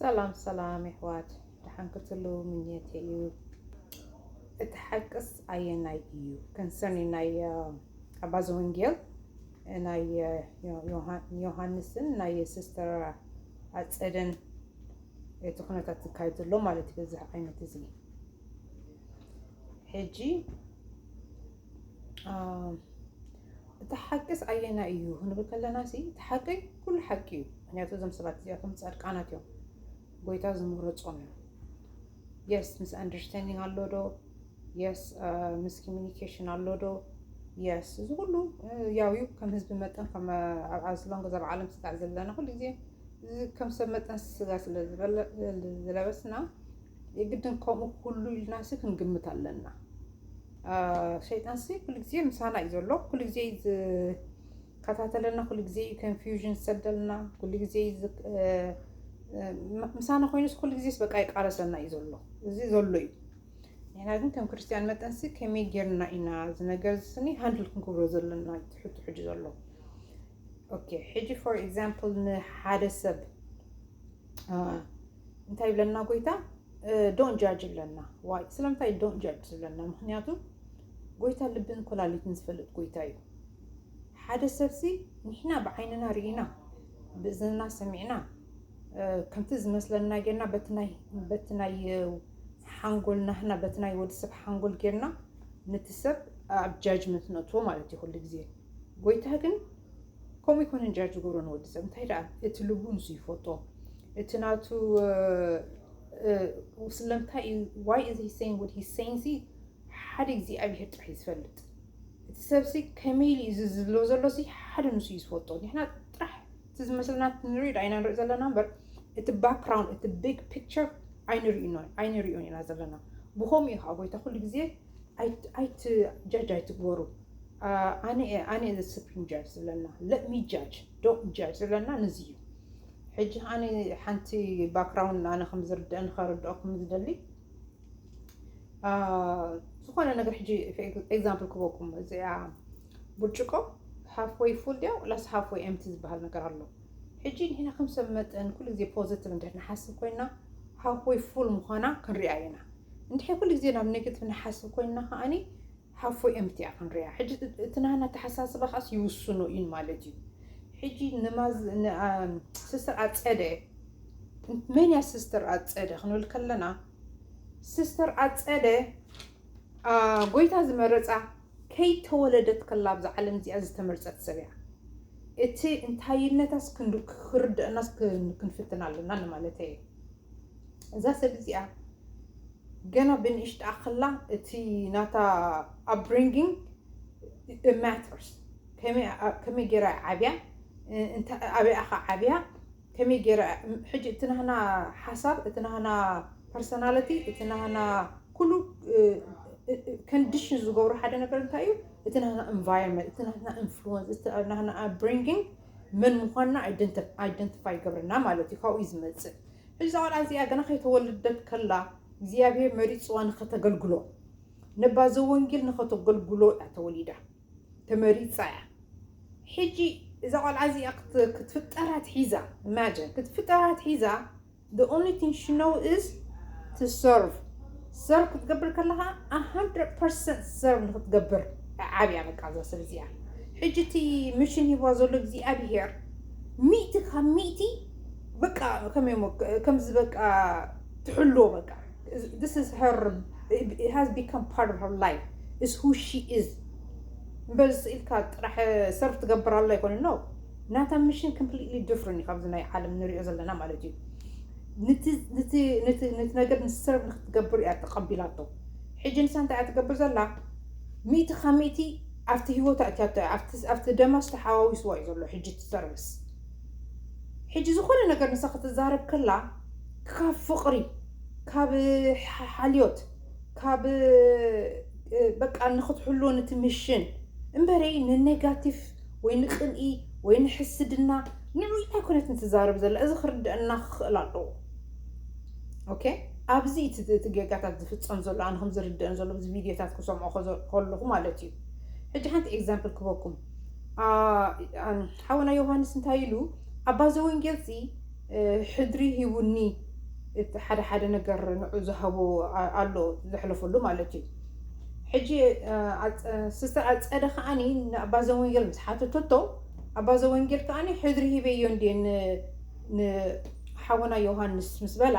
ሰላም ሰላም የሕዋት ደሓን ክትሉ ምኘት እዩ እቲ ሓቅስ ኣየናይ እዩ ኮንሰርኒ ናይ ኣባ ዘወንጌል ናይ ዮሃንስን ናይ ሲስተር ኣፀደን እቲ ኩነታት ዝካየድ ዘሎ ማለት በዚ ዓይነት እዚ ሕጂ እቲ ሓቂስ ኣየናይ እዩ ክንብል ከለና ሲ እቲ ሓቂ ኩሉ ሓቂ እዩ ምክንያቱ እዞም ሰባት እዚኣቶም ፃድቃናት እዮም ጎይታ ዝመረፆም እዮም የስ ምስ ኣንደርስታንዲንግ ኣሎ ዶ የስ ምስ ኮሚኒኬሽን ኣሎ ዶ የስ እዚ ኩሉ ያው እዩ ከም ህዝቢ መጠን ከም ኣብ ኣዝሎንግ እዛ ዓለም ስጣዕ ዘለና ኩሉ ግዜ ከም ሰብ መጠን ስጋ ስለ ዝለበስና የግድን ከምኡ ኩሉ ኢልናሲ ክንግምት ኣለና ሸይጣንሲ ኩሉ ግዜ ምሳና እዩ ዘሎ ኩሉ ግዜ ዝከታተለና ኩሉ ግዜ እዩ ኮንፊውዥን ዝሰደልና ኩሉ ግዜ ምሳና ኮይኑስ ኩሉ ግዜስ በቃ ይቃለሰና እዩ ዘሎ እዚ ዘሎ እዩ ንሕና ግን ከም ክርስትያን መጠንሲ ከመይ ጌርና ኢና እዚ ነገር ዝስኒ ሃንድል ክንክብሮ ዘለና ትሕቱ ሕጂ ዘሎ ኦኬ ሕጂ ፎር ኤግዛምፕል ንሓደ ሰብ እንታይ ይብለና ጎይታ ዶን ጃጅ ይብለና ዋይ ስለምንታይ ዶን ጃጅ ዝብለና ምክንያቱ ጎይታ ልብን ኮላሊትን ዝፈልጥ ጎይታ እዩ ሓደ ሰብሲ ንሕና ብዓይንና ርኢና ብእዝንና ሰሚዕና ከምቲ ዝመስለና ጌርና በቲ ናይ ሓንጎልና ህና በቲ ናይ ወዲሰብ ሓንጎል ጌርና ነቲ ሰብ ኣብ ጃጅመንት ነእትዎ ማለት እዩ ኩሉ ግዜ ጎይታ ግን ከምኡ ይኮነ እንጃ ዝገብሮ ንወዲ ሰብ እንታይ ደኣ እቲ ልቡ ንሱ ይፈቶ እቲ ናቱ ስለምንታይ እዩ ዋይ እዚ ሂሰይን ወድ ሂሰይን ሲ ሓደ እግዚኣብሄር ጥራሕ እዩ ዝፈልጥ እቲ ሰብሲ ከመይ ኢሉ እዚ ዝብሎ ዘሎ ሲ ሓደ ንሱ እዩ ዝፈልጦ ንሕና ጥራሕ እቲ ዝመስለና ንርኢ ዳኢና ንርኢ ዘለና እምበር እቲ ባክግራውንድ እቲ ቢግ ፒክቸር ኣይንሪኦን ኢና ዘለና ብከምኡ እዩ ከዓ ጎይታ ኩሉ ግዜ ኣይት ጃጅ ኣይትግበሩ ኣነ ኣነ ዘ ስፕሪም ጃጅ ዝብለና ለሚ ጃጅ ዶ ጃጅ ዝብለና ንዚ እዩ ሕጂ ኣነ ሓንቲ ባክግራውንድ ኣነ ከም ዝርድአን ከረድኦኩም ዝደሊ ዝኾነ ነገር ሕጂ ኤግዛምፕል ክበኩም እዚኣ ብርጭቆ ሃፍወይ ፉል ድያ ላስ ሃፍወይ ኤምቲ ዝበሃል ነገር ኣሎ ሕጂ ንሕና ከም ሰብ መጠን ኩሉ ግዜ ፖዘቲቭ እንድሕር ንሓስብ ኮይና ሃፍ ወይ ፉል ምዃና ክንሪኣ ኢና። እንድሕር ኩሉ ግዜ ናብ ኔጌቲቭ ንሓስብ ኮይና ከኣኒ ሃፍ ወይ ኤምፕቲ እያ ክንሪኣ። ሕጂ እቲ ናህና ኣተሓሳስባ ከኣስ ይውስኖ እዩ ማለት እዩ። ሕጂ ንሲስተር ኣጸደ መን እያ ሲስተር ኣጸደ ክንብል ከለና ሲስተር ኣጸደ ጎይታ ዝመረጻ ከይተወለደት ከላ ኣብዛ ዓለም እዚኣ ዝተመርጸት ሰብ እያ። እቲ እንታይነታስ ክንዱ ክርደእናስ ክንፍትን ኣለና ንማለተይ እየ። እዛ ሰብ እዚኣ ገና ብንእሽትኣ ከላ እቲ ናታ upbringing it matters ከመይ ጌራ እያ ዓብያ ኣበይ እያ ከ ዓብያ ከመይ ጌረ ሕጂ እቲ ናህና ሓሳብ እቲ ናህና ፐርሰናለቲ እቲ ናህና ኩሉ ከንዲሽን ዝገብሮ ሓደ ነገር እንታይ እዩ እቲ ናህና ኤንቫይሮንመንት እቲ ናህና ኢንፍሉወንስ እቲ ናህና ኣፕብሪንጊንግ መን ምዃንና ኣይደንቲፋይ ይገብረና ማለት እዩ ካብኡ እዩ ዝመፅእ ሕዚ እዛ ቆልዓ እዚኣ ገና ከይተወለደት ከላ እግዚኣብሄር መሪፅዋ ንኸተገልግሎ ነባ ዘወንጌል ንኸተገልግሎ እያ ተወሊዳ ተመሪጻ እያ ሕጂ እዛ ቆልዓ እዚኣ ክትፍጠር ኣትሒዛ ኢማጅን ክትፍጠር ኣትሒዛ the only thing she know is to serve ሰርቭ ክትገብር ከለኻ 100% ሰርቭ ንክትገብር ዓብያ በቃ እዛ ሰብ እዚኣ ሕጂ እቲ ምሽን ሂብዋ ዘሎ እግዚኣብሄር ሚእቲ ካብ ሚእቲ በቃ ከመይ ከምዚ በቃ ትሕልዎ በቃ this is her it has become part of her life is who she is እምበር ስኢልካ ጥራሕ ሰርፍ ትገብር ኣሎ ይኮነ ኖ ናታ ሚሽን ኮምፕሊትሊ ዲፍረንት እዩ ካብዚ ናይ ዓለም ንሪኦ ዘለና ማለት እዩ ነቲ ነገር ንሰርቭ ንክትገብር እያ ተቐቢላቶ ሕጂ ንሳ እንታይ እያ ትገብር ዘላ ሚእቲ ካብ ሚእቲ ኣብቲ ሂወት ኣእትያቶ ኣብቲ ደማ ዝተሓዋዊስዋ እዩ ዘሎ ሕጂ እቲ ሰርቪስ ሕጂ ዝኾነ ነገር ንሳ ክትዛረብ ከላ ካብ ፍቕሪ ካብ ሓልዮት ካብ በቃ ንክትሕልዎ ንትምሽን እምበረይ ንኔጋቲቭ ወይ ንቅንኢ ወይ ንሕስድና ንዑ ኣይኮነትን ትዛረብ ዘላ እዚ ክርድአና ክኽእል ኣለዎ ኦኬ ኣብዚ እቲ ጌጋታት ዝፍፀም ዘሎ ኣነ ከም ዝርድአን ዘሎ እዚ ቪድዮታት ክሰምዖ ከለኹ ማለት እዩ ሕጂ ሓንቲ ኤግዛምፕል ክበኩም ሓወና ዮሃንስ እንታይ ኢሉ ኣባ ዘወንጌል ሲ ሕድሪ ሂቡኒ እቲ ሓደ ሓደ ነገር ንዑ ዝሃቦ ኣሎ ዘሕለፈሉ ማለት እዩ ሕጂ ስስተር ኣፀደ ከዓኒ ንኣባ ዘወንጌል ምስ ሓተተቶ ኣባ ዘወንጌል ከዓኒ ሕድሪ ሂበዮ እንድየ ንሓወና ዮሃንስ ምስ በላ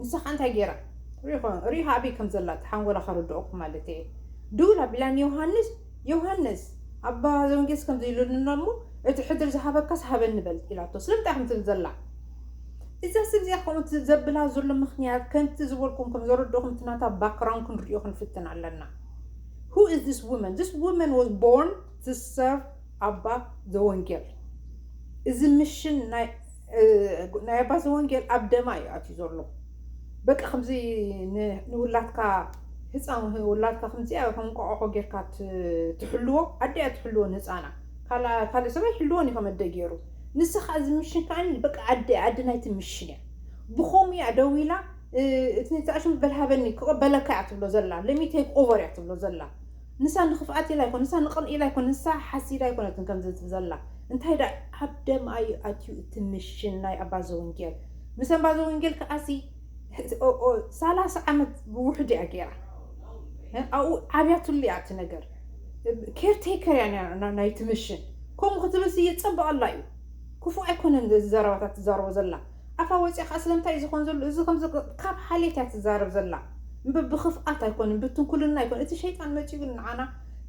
ንሳ ከዓ እንታይ ገይራ ሪኢኻ ኣበይ ከም ዘላ እቲ ሓንጎላ ከረድኦኩም ማለት እየ ድውል ኣቢላ ንዮሃንስ ዮሃንስ፣ ኣባ ዘውንጌስ ከምዚ ኢሉልና እሞ፣ እቲ ሕድሪ ዝሃበካስ ሃበኒ በል ኢላቶ። ስለምንታይ ኢኹም ትብል ዘላ? እዛ ሰብ እዚኣ ከምኡ ዘብላ ዘሎ ምኽንያት፣ ከምቲ ዝበልኩም ከም ዘረድእኹም እቲ ናታ ባክግራውንድ ክንርእዮ ክንፍትን ኣለና። Who is this woman? This woman was born to serve ኣባ ዘወንጌል። እዚ ምሽን ናይ ናይ ኣባ ዘወንጌል ኣብ ደማ እዩ ኣትዩ ዘሎ በቃ ከምዚ ንውላድካ ህፃን ውላድካ ከምዚኣ ከንቋቆቆ ጌርካ ትሕልዎ ኣዲያ ትሕልዎ ንህፃና ካልእ ሰብኣይ ይሕልዎን እዩ ከመደ ገይሩ ንሳ ከዓ እዚ ምሽን ከዓኒ በቃ ኣዲ ኣዲ ናይቲ ምሽን እያ ብከምኡ እያ ደው ኢላ እቲ ተኣሽም በልሃበኒ ክቕበለካ እያ ትብሎ ዘላ ለሚቴክ ኦቨር እያ ትብሎ ዘላ ንሳ ንክፍኣት ኢላ ኣይኮነትን ንሳ ንቅንኢ ኢላ ኣይኮነትን ንሳ ሓሲዳ ኣይኮነትን ከምዚ ትብል ዘላ እንታይ ደኣ ኣብ ደምኣ እዩ ኣትዩ እቲ ምሽን ናይ ኣባ ዘወንጌል ምስ ኣባ ዘወንጌል ከኣሲ ሰላሳ ዓመት ብውሕድ እያ ጌራ ኣብኡ ዓብያትሉ እያ እቲ ነገር ኬር ቴከር እያ ነይራ ናይቲ ምሽን ከምኡ ክትብልሲ የጸብቐላ እዩ ክፉእ ኣይኮነን እዚ ዘረባታት ትዛረቦ ዘላ ኣፋ ወጽያ ከኣ ስለምንታይ እዩ ዝኮን ዘሎ እዚ ከምዚ ካብ ሓልየት እያ ትዛረብ ዘላ እምበር ብክፍኣት ኣይኮነን ብትንኩልና ኣይኮነን እቲ ሸይጣን መጺኡ ግን ንዓና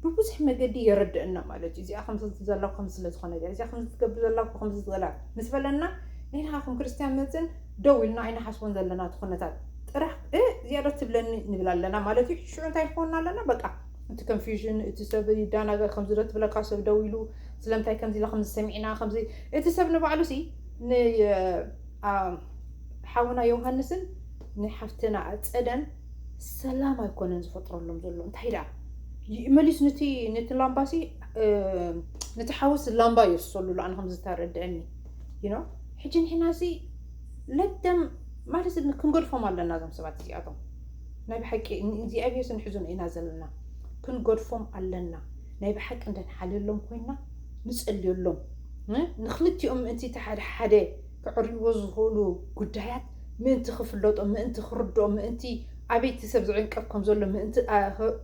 ብብዙሕ መገዲ የረደእና ማለት እዩ እዚኣ ከምዚ ትብል ዘላ እኮ ከምዚ ስለ ዝኮነ እያ እዚኣ ከምዚ ትገብር ዘላ እኮ ከምዚ ዝበላ ምስ በለና ንሕና ከም ክርስትያን መጽን ደው ኢልና ኣይንሓስቦን ዘለና እቲ ኩነታት ጥራሕ እ እዚኣ ዶ ትብለኒ ንብል ኣለና ማለት እዩ ሽዑ እንታይ ክኮንና ኣለና በቃ እቲ ኮንፊውዥን እቲ ሰብ ይዳናገር ከምዚ ዶ ትብለካ ሰብ ደው ኢሉ ስለምንታይ ከምዚ ኢላ ከምዚ ሰሚዕና ከምዚ እቲ ሰብ ንባዕሉ ሲ ንሓውና ዮውሃንስን ንሓፍትና ኣፀደን ሰላም ኣይኮነን ዝፈጥረሎም ዘሎ እንታይ ደኣ መሊስ ንቲ ንቲ ላምባሲ ንቲ ሓውስ ላምባ ይርሰሉ ኣነ ከም ዝተረድዐኒ ይኖ ሕጂ ንሕና እዚ ለደም ማለት ክንገድፎም ኣለና እዞም ሰባት እዚኣቶም ናይ ብሓቂ እግዚኣብሄር ስንሕዙን ኢና ዘለና ክንገድፎም ኣለና ናይ ብሓቂ እንደንሓልየሎም ኮይና ንጸልዮሎም። ንክልቲኦም ምእንቲ እቲ ሓደ ሓደ ከዕርይዎ ዝኽእሉ ጉዳያት ምእንቲ ክፍለጦም፣ ምእንቲ ክርድኦም፣ ምእንቲ ኣበይ እቲ ሰብ ዝዕንቀፍ ከም ዘሎ ምእንቲ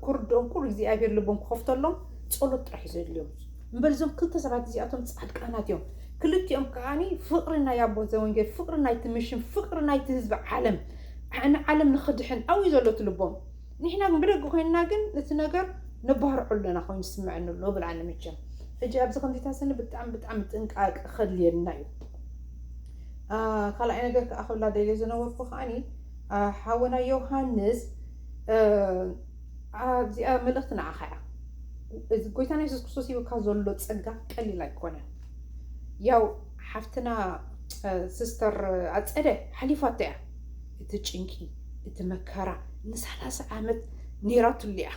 ክርድኦም ኩሉ እግዚኣብሄር ልቦም ክኸፍተሎም ጸሎት ጥራሕ እዩ ዘድልዮም። እምበር እዞም ክልተ ሰባት እዚኣቶም ጻድቃናት እዮም። ክልቲኦም ከኣ ፍቕሪ ናይ ኣቦ ዘወንጌል፣ ፍቕሪ ናይቲ ምሽን፣ ፍቕሪ ናይቲ ህዝቢ ዓለም፣ ንዓለም ንክድሕን ኣብኡ እዩ ዘሎ እቲ ልቦም። ንሕና ግን ብደገ ኮይንና ግን ነቲ ነገር ነባርዖ ኣሎና ኮይኑ ይስመዐኒ ኣሎ እብል ኣነ መቸም ሕጂ ኣብዚ ከምዚታት ስኒ ብጣዕሚ ብጣዕሚ ጥንቃቀ ከድልየና እዩ ካልኣይ ነገር ከዓ ክብላ ደልየ ዝነበርኩ ከዓኒ ሓወና ዮሃንስ ኣብዚኣ መልእኽቲ ንዓኻ እያ እዚ ጎይታና የሱስ ክርስቶስ ሂብካ ዘሎ ፀጋ ቀሊል ኣይኮነን ያው ሓፍትና ስስተር ኣፀደ ሓሊፋቶ እያ እቲ ጭንቂ እቲ መከራ ንሳላሳ ዓመት ኔራትሉ'ያ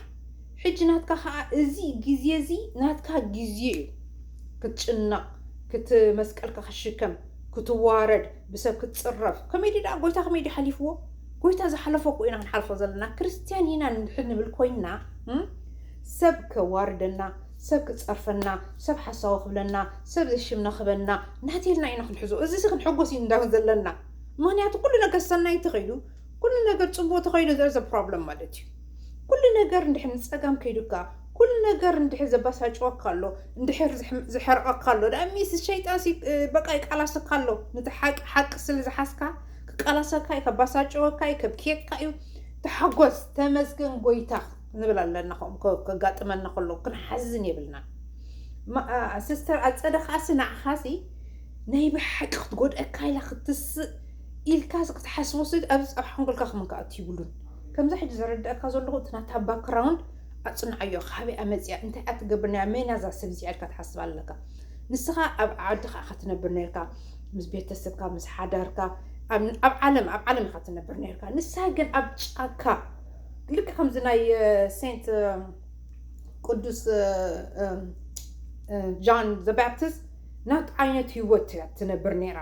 ሕጂ ናትካ ከኣ እዚ ግዜ እዚ ናትካ ግዜ እዩ ክትጭነቅ ክት መስቀልካ ክትሽከም ክትዋረድ ብሰብ ክትጽረፍ ከመይ ድዩ ደኣ ጎይታ ከመይ ድዩ ሓሊፍዎ ጎይታ ዝሓለፎ እኮ ኢና ክንሓልፎ ዘለና ክርስትያን ኢና ንድሕር ንብል ኮይና ሰብ ከዋርደና ሰብ ክጸርፈና ሰብ ሓሳዊ ክብለና ሰብ ዘይሽምና ክበና ናተይልና ኢና ክንሕዞ እዚ ክንሕጎስ ኢና ዘለና ምክንያቱ ኩሉ ነገር ሰናይ ተኸይዱ ኩሉ ነገር ፅቡቅ ተኸይዱ ዘርዘ ፕሮብለም ማለት እዩ ኩሉ ነገር እንድሕር ንፀጋም ከይዱካ ኩሉ ነገር እንድሕር ዘባሳጭወካ ኣሎ እንድሕር ዝሐርቐካ ኣሎ ዳኣ ሚስ ሸይጣን በቃ ይቃላሰካ ኣሎ ነቲ ሓቂ ሓቂ ስለ ዝሓዝካ ክቃላሰካ እዩ ከባሳጭወካ እዩ ከብክየካ እዩ ተሓጎስ ተመስገን ጎይታ ንብል ኣለና ከምኡ ከጋጥመና ከሎ ክንሓዝን የብልና ሲስተር ኣፀደ ከዓሲ ንዓኻሲ ናይ ብሓቂ ክትጎድኣካ ኢላ ክትስእ ኢልካስ ክትሓስቦስ ኣብዚ ኣብ ሓንጎልካ ከመን ክኣቱ ይብሉን ከምዛ ሕጂ ዘረድኣካ ዘለኹ እቲ ናታ ባክራውንድ ኣጽንዓዮ ካበይኣ መጽያ እንታይ እያ ትገብር ነይራ መን እያ እዛ ሰብ እዚኣ ኢልካ ትሓስብ ኣለካ ንስኻ ኣብ ዓድኻ ኢኻ ትነብር ነርካ ምስ ቤተሰብካ ምስ ሓዳርካ ኣብ ዓለም ኣብ ዓለም ኢኻ ትነብር ነርካ ንሳ ግን ኣብ ጫካ ልክ ከምዚ ናይ ሴንት ቅዱስ ጃን ዘ ባፕቲስት ናት ዓይነት ሂወት እያ ትነብር ነይራ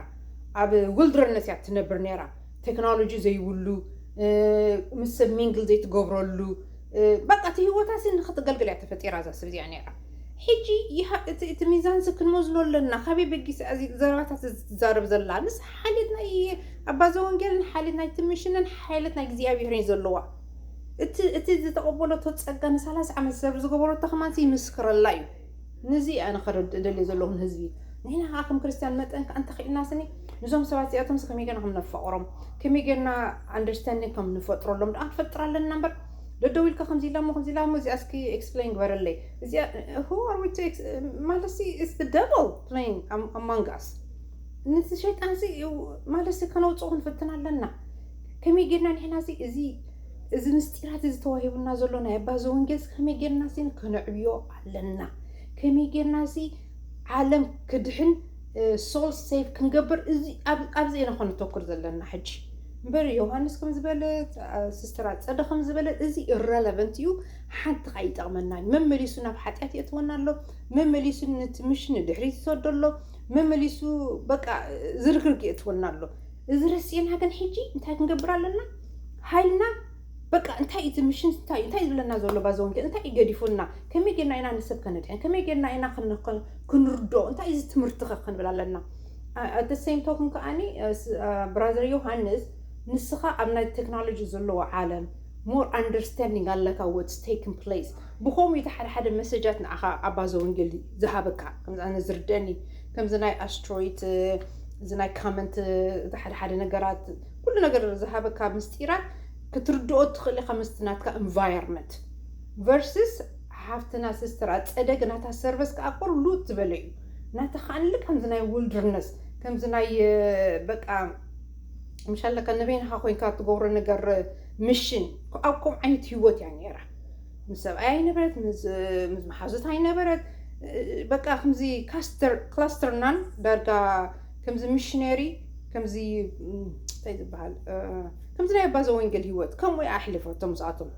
ኣብ ውልድረነት እያ ትነብር ነይራ ተክኖሎጂ ዘይብሉ ምስ ሰብ ሚንግል ዘይትገብረሉ በቃ እቲ ሂወታሲ ንክትገልግል እያ ተፈጢራ እዛ ሰብ እዚኣ ነይራ ሕጂ ይሃ እቲ እቲ ሚዛን ክንመዝኖ ኣለና ካበይ በጊስ እዚ ዘረባታት እዚ ትዛረብ ዘላ ምስ ሓልዮት ናይ ኣባ ዘወንጌልን ሓልዮት ናይ ትምሽንን ሓልዮት ናይ እግዚኣብሔርን ዘለዋ እቲ እቲ ዝተቐበለቶ ጸጋ ንሳላሳ ዓመት ሰብ ዝገበረቶ ከማንሲ ይምስክረላ እዩ ነዚ እየ ኣነ ከረድእ ደልየ ዘለኹ ንህዝቢ። ንሕና ከኣ ከም ክርስትያን መጠን ከኣ እንተኺኢልና ስኒ ንዞም ሰባት እዚኣቶምስ ከመይ ጌርና ከም ነፋቕሮም ከመይ ጌርና ኣንደርስታንዲንግ ከም ንፈጥረሎም ደኣ ክንፈጥር ኣለና እምበር ደደው ኢልካ ከምዚ ኢላ እሞ ከምዚ ኢላ እሞ እዚኣ እስኪ ኤክስፕሌን ግበረለይ እዚኣ who are we to ex- ማለትሲ it's the devil playing am- among us ነቲ ሸይጣንሲ ማለትሲ ከነውፅኦ ክንፍትን ኣለና ከመይ ጌርና ንሕና እዚ እዚ እዚ ምስጢራት እዚ ተዋሂቡና ዘሎ ናይ ኣባ ዘወንጌልስ ከመይ ጌርና ሲ ከነዕብዮ ኣለና ከመይ ጌርና እዚ ዓለም ክድሕን ሶል ሴቭ ክንገብር ኣብዚ ኢና ኮ ነተኩር ዘለና ሕጂ እምበር ዮሃንስ ከም ዝበለ ስስተር ኣፀደ ከም ዝበለ እዚ ኢረለቨንት እዩ ሓንቲ ከዓ ይጠቕመና እዩ መመሊሱ ናብ ሓጢኣት የእትወና ኣሎ መመሊሱ ነቲ ምሽን ንድሕሪት ይሰዶ ኣሎ መመሊሱ በቃ ዝርግርግ የእትወና ኣሎ እዚ ረሲዕና ግን ሕጂ እንታይ ክንገብር ኣለና ሃይልና በቃ እንታይ እዩ እዚ ምሽን እንታይ እዩ እንታይ ዝብለና ዘሎ ባዚ ወንጌል እንታይ እዩ ገዲፉና ከመይ ጌርና ኢና ንሰብ ከነድሕን ከመይ ጌርና ኢና ክንርድኦ እንታይ እዚ ትምህርቲ ከ ክንብል ኣለና ኣት ሴም ቶክን ከዓኒ ብራዘር ዮሃንስ ንስኻ ኣብ ናይ ቴክኖሎጂ ዘለዎ ዓለም ሞር ኣንደርስታንዲንግ ኣለካ ወትስ ቴክን ፕሌስ ብከምኡ እቲ ሓደ ሓደ መሰጃት ንዓኻ ኣብ ባዘ ወንጌል ዝሃበካ ከምዚ ኣነ ዝርደኒ ከምዚ ናይ ኣስትሮይት እዚ ናይ ካመንት እዚ ሓደ ሓደ ነገራት ኩሉ ነገር ዝሃበካ ምስጢራት ክትርድኦ ትኽእል ኢኻ ምስቲ ናትካ ኢንቫይሮመንት ቨርስስ ሓፍትና ሲስተር ኣፀደ ግን ናታ ሰርቨስ ከዓ ቁር ሉት ዝበለ እዩ ናታ ከዓንለ ከምዚ ናይ ውልድርነስ ከምዚ ናይ በቃ ምሻለካ ንበይንኻ ኮይንካ ትገብሮ ነገር ምሽን ኣብ ከምኡ ዓይነት ህይወት እያ ነይራ ምስ ሰብኣይ ኣይነበረት ምስ መሓዙት ኣይነበረት በቃ ከምዚ ካስተር ክላስተርናን ዳርጋ ከምዚ ምሽነሪ ከምዚ እንታይ ዝበሃል ከምዚ ናይ ኣባ ዘወንጌል ህይወት ከምኡ እያ ኣሕሊፈቶ ምስኣቶም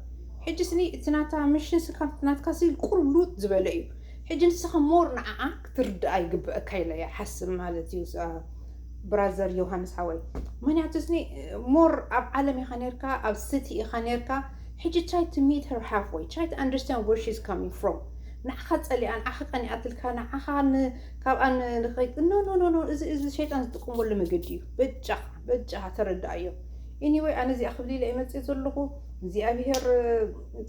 ሕጂ ስኒ እቲ ናታ ምሽን ስካብ ናትካ ሲ ቁሩብ ሉጥ ዝበለ እዩ ሕጂ ንስኻ ሞር ንዓዓ ክትርድኣ ይግበአካ ኢለ እያ ሓስብ ማለት እዩ ብራዘር ዮሃንስ ሓወይ ምክንያቱ ስኒ ሞር ኣብ ዓለም ኢኻ ነርካ ኣብ ስቲ ኢኻ ነርካ ሕጂ ትራይ ቱ ሚት ሄር ሃፍ ወይ ትራይ ቱ ኣንደርስታንድ ወር ሺዝ ካሚንግ ፍሮም ንዓኻ ጸሊኣ ንዓኻ ቀኒኣትልካ ንዓኻ ካብኣ ንኸይድ ኖ ኖ ኖ ኖ እዚ እዚ ሸይጣን ዝጥቀመሉ መገዲ እዩ በጃ በጃ ተረዳኣዮ ኢኒወይ ኣነ እዚኣ ክብል ኢለ መፅእ ዘለኹ እግዚኣብሄር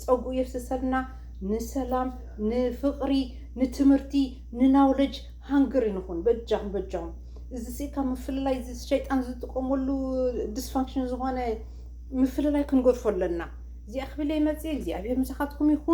ፀጉኡ የፍስሰልና ንሰላም ንፍቕሪ ንትምህርቲ ንናውለጅ ሃንግሪ ንኹን በጃኹም በጃኹም እዚ ሲ ካብ ምፍልላይ እዚ ሸይጣን ዝጥቀመሉ ዲስፋንክሽን ዝኾነ ምፍልላይ ክንገድፎ ኣለና። እዚኣ ክብል መፅእ እግዚኣብሔር ምሳኻትኩም ይኹን።